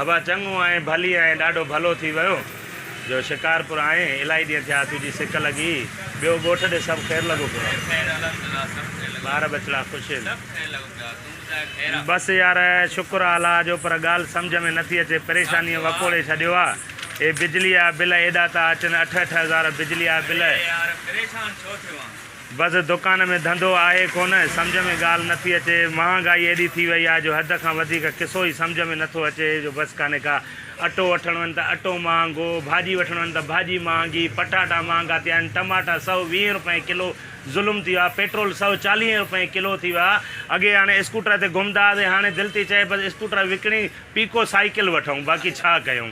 ابا چڱو آئين ڀلي آئين ڏاڍو ڀلو ٿي ويو جو شڪارپور آئين الائي ڏينهن ٿيا تنهنجي سڪ لڳي ٻيو ڳوٺ ڏي سڀ خير لڳو پيو آهي ٻار ٻچڙا خوش هين بس يار شڪر آ الله جو پر ڳالهه سمجهه ۾ نٿي اچي پريشاني وڪوڙي ڇڏيو آ اهي بجلي آ بل ايڏا ٿا اچن اٺ اٺ هزار بجلي آ بل بس دڪان ۾ ڌنڌو آهي ڪونه، سمجهه ۾ ڳالهه نه ٿي اچي، مهانگائي ايڏي ٿي وئي آهي جو حد کان وڌيڪ قصو ئي سمجهه ۾ نه ٿو اچي جو بس ڪانهي ڪا، اٽو وٺڻ وڃ ته اٽو مهانگو، ڀاڄي وٺڻ وڃ ته ڀاڄي مهانگي، پٽاٽا مهانگا ٿيا آهن، ٽماٽا سؤ ويهين رپئين ڪلو ظلم ٿي ويو آهي، پيٽرول سؤ چاليهين رپئين ڪلو ٿي ويو آهي، اڳي هاڻي اسڪوٽر تي گهمندا هئاسين هاڻي دل ٿي چئي بس اسڪوٽر وڪڻي پيڪو سائيڪل وٺئون باقي ڇا ڪيون.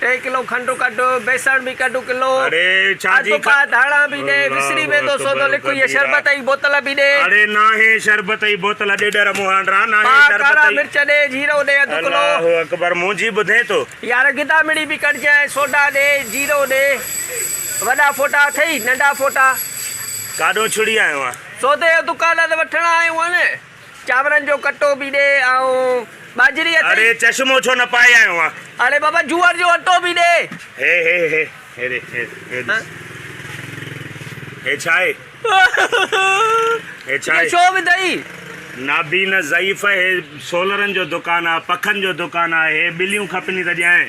ٽي ڪلو کنڊ ڪڍ، بيسڻ به ڪڍ ڪلو، اڌ پاء ڌاڻا به ڏي، وسري ويندو سوڌو لک، هيء شربت جي بوتل به ڏي. پاء ڪارا مرچ ڏي، جيرو ڏي اڌ ڪلو. يار گدامڙي به ڪڍجانء، سوڊا ڏي، جيرو ڏي. وڏا ڦوٽا اٿئي، ننڍا ڦوٽا؟ سودي جو دڪان ته وٺڻ آيو آهيان نه. چانورن جو ڪٽو به ڏي آئون ٻاجهري اٿئي. اڙي چشمو ڇو نه پائي آيو آن. اڙي بابا جوئر جو اٽو به ڏي. هي هي هي هي ڏي هي هي ڏس هي ڇا آهي هي ڇا آهي. ڇو وڌئي. نابينا ضعيف هي سولرن جو دڪان آ پکن جو دڪان آ هي ٻليون کپني ته ڄائين.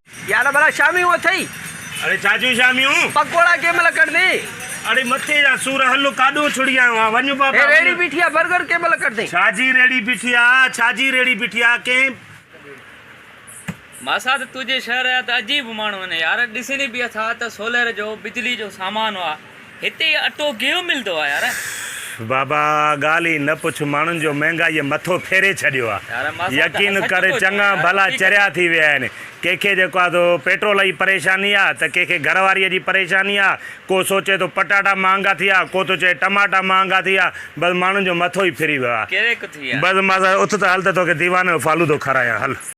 يار ڀلا شاميون اٿئي؟ اڙي ڇا جون شاميون؟ پڪوڙا ڪنهن مهل ڪڍندين؟ اڙي مٿي جا سور هل ڪاڏون ڇڙيائون ها وڃ بابا وڃ. هي ريڙهي بيٺي آ برگر ڪنهن مهل ڪڍندين؟ ڇا جي ريڙهي بيٺي آ؟ ڇا جي ريڙهي بيٺي آ ڪنهن. ماسات تنهنجي شهر جا ته عجيب ماڻهو آهن يار ڏسين ئي پيا ٿا ته سولر جو بجلي جو سامان آ. هتي اٽو گيهو ملدو آ يار. بابا ڳالهه ئي نه پڇ ماڻهن جو مهنگائيء مٿو ڦيري ڇڏيو آ يقين ڪر چڱا ڀلا چريا ٿي ويا آهن ڪنهن کي جيڪو آ سو پيٽرول جي پريشاني آ ته ڪنهن کي گهر واريء جي پريشاني آ ڪو سوچي ٿو پٽاٽا مهانگا ٿي ويا ڪو ٿو چئي ٽماٽا مهانگا ٿي ويا بس ماڻهن جو مٿو ئي ڦري ويو آ بس ماس اٿ ته هل ته توکي ديواني جو فالودو کارايان هل.